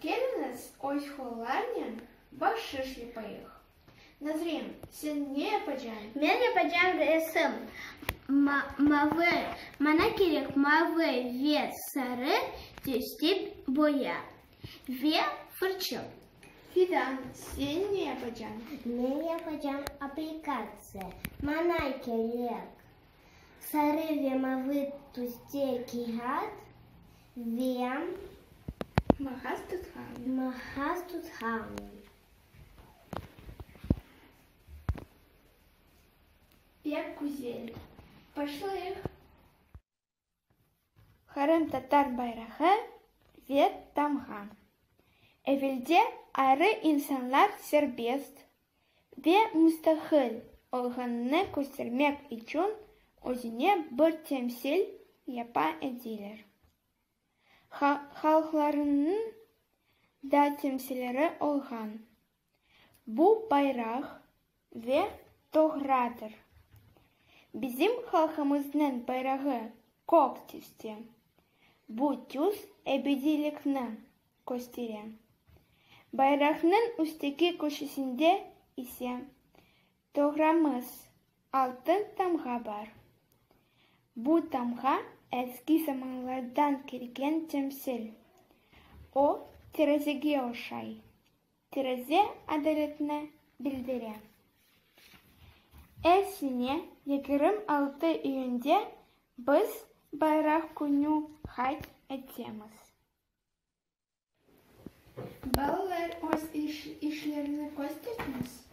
Keliñiz, öz hollarnen bahşış yapayıq. Nazrin, sen ne yapacañ? Men yapacañ resim. Mavı, mana kerek mavı ve sarı tüste boya ve fırça. Fidan, sen ne yapacañ? Men yapacañ aplikatsiya. Mana kerek. Sarı ve mavı tüste kâğıt ve mağaz tutqanı. Mağaz tutqanı. Pek güzel. Başlayıq. Qırımtatar bayrağı ve tamğa. Evelde ayrı insanlar serbest ve müstaqil olğanını köstermek içün özüne bir temsil yapa ediler. Halqlarınıñ da temsilleri olğan. Bu bayraq ve toğradır. Bizim halqımıznıñ bayrağı kök tüste. Bu tüs ebediylikni köstere. Bayraqnıñ üsteki köşesinde ise toğramız, altın tamğa bar. Bu tamğa eski zamanlardan kelgen temsil. O, terazige oşay. Tereze adaletni bildire. Er sene yigirmi altı iyünde biz Bayraq künü qayd etemiz. Balalar öz işlerini kösterdiniz?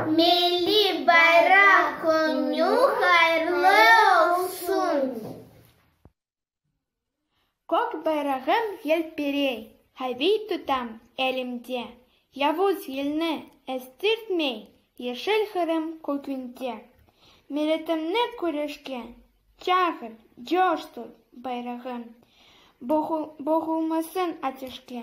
Milliy Bayraq künü hayırlı olsun! Kök bayrağım yelpirey, haviy tutam elimde, Yavuz yelni estirtmey, yeşil Qırım kökünde. Milletimni küreşke çağır, coştur, bayrağım, Boğulmasın ateşke,